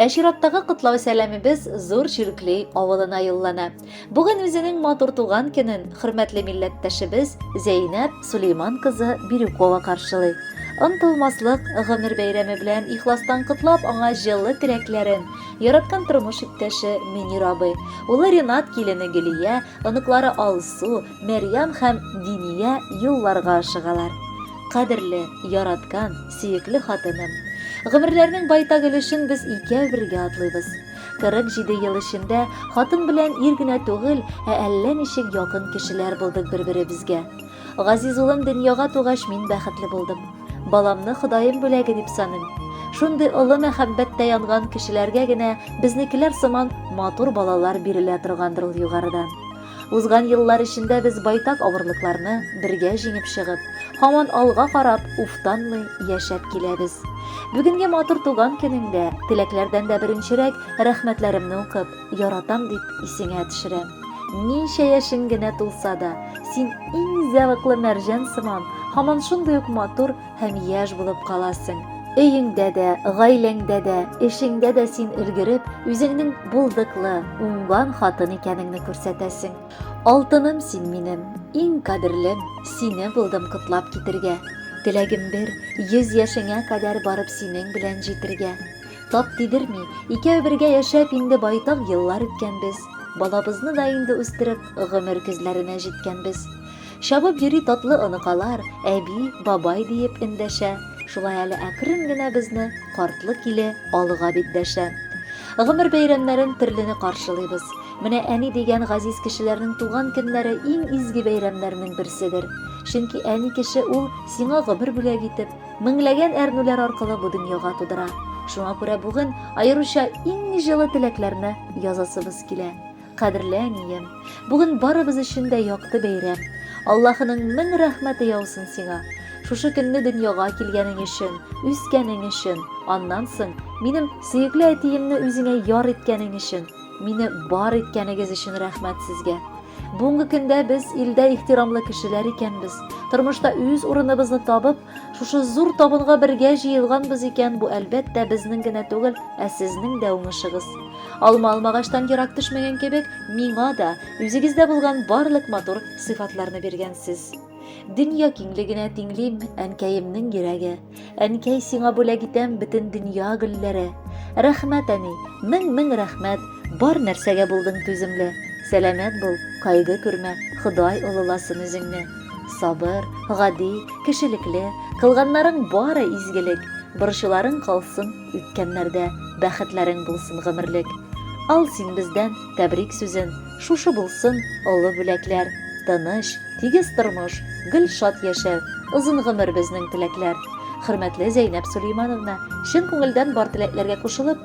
Ә чираттагы котлау сәламебез зур чиркли авылына юллана. Бүген үзенең матур туган көнен хөрмәтле милләттәшебез Зәйнәп Сулейман кызы Бирюкова каршылый. Онтылмаслык гомер бәйрәме белән ихластан котлап аңа җылы теләкләрен яраткан тормыш иптәше Мөнир абый, улы Ренат килене Гөлия, оныклары Алсу, Мәрьям һәм Диния юлларга ашыгалар. Кадерле, яраткан, Сөекле хатыным, гомерләрнең байтак өлешен без икәү бергә атлыйбыз. 47 ел эчендә хатын белән ир генә түгел, ә әллә ничек якын кешеләр булдык бер-беребезгә. Газиз улым дөньяга тугач мин бәхетле булдым. Баламны Ходаем бүләге дип саныйм. Шундый олы мәхәббәттә янган кешеләргә генә безнекеләр сыман матур балалар бирелә торгандыр ул югарыдан. Узган еллар эчендә без байтак авырлыкларны бергә җиңеп чыгып, һаман алга карап, уфтанмый яшәп киләбез. Бүгенге матур туган көнеңдә, теләкләрдән дә беренчерәк, рәхмәтләремне укып, яратам дип исеңә төшерәм. Ничә яшең генә тулса да, син иң зәвыклы мәрҗән сыман, һаман шундый ук матур, һәм яшь булып каласың. Өеңдә дә, гаиләңдә дә, эшеңдә дә син өлгереп, үзеңнең булдыклы, уңган хатын икәнеңне күрсәтәсең. Алтыным син минем, иң кадерлем, сине булдым котлап китергә. Теләгем бер, йөз яшеңә кадәр барып синең белән җитергә. Тап тидерми, икәү бергә яшәп инде байтак еллар үткәнбез. Балабызны да инде үстереп, гомер көзләренә җиткәнбез. Чабып йөри татлы оныкалар, әби, бабай диеп эндәшә. Шулай әле әкрен генә безне картлы киле алыга бит дәшә. Гомер бәйрәмнәрен төрлене каршылыйбыз. Менә әни дигән газиз кешеләрнең туган көннәре иң изге бәйрәмнәрнең берседер. Чөнки әни кеше ул сиңа гомер бүләк итеп, меңләгән әрнүләр аркылы бу дөньяга тудыра. Шуңа күрә бүген аеруча иң җылы теләкләрне язасыбыз килә. Кадерле әнием, бүген барыбыз өчен дә якты бәйрәм. Аллаһының мең рәхмәте яусын сиңа. Шушы көнне дөньяга килгәнең өчен, үскәнең өчен, аннан соң минем сөекле әтиемне үзеңә яр иткәнең өчен, мине бар иткәнегез өчен рәхмәт сезгә. Бүгенге көндә без илдә ихтирамлы кешеләр икәнбез. Тормышта үз урыныбызны табып, Шушы зур табынга бергә җыелганбыз икән, бу әлбәттә безнең генә түгел, ә сезнең дә уңышыгыз. Алма алмагачтан ерак төшмәгән кебек, миңа да үзегездә булган барлык матур сыйфатларны биргәнсез. Дөнья киңлегенә тиңлим, әнкәемнең йөрәге. Әнкәй, сиңа бүләк итәм бөтен дөнья гөлләре. Рәхмәт, әни, мең-мең рәхмәт. Бар нәрсәгә булдың түземле, Сәламәт бул, кайгы күрмә, Ходай олыласын үзеңне. Сабыр, гади, кешелекле, Кылганнарың бары изгелек, Борчуларың калсын үткәннәрдә, Бәхетләрең булсын гомерлек. Ал син бездән тәбрик сүзен, Шушы булсын олы бүләкләр, Тыныч, тигез тормыш, гел шат яшәү, Озын гомер безнең теләкләр. Хөрмәтле Зәйнәб Сөләймановна, чын күңелдән бар теләкләргә кушылып,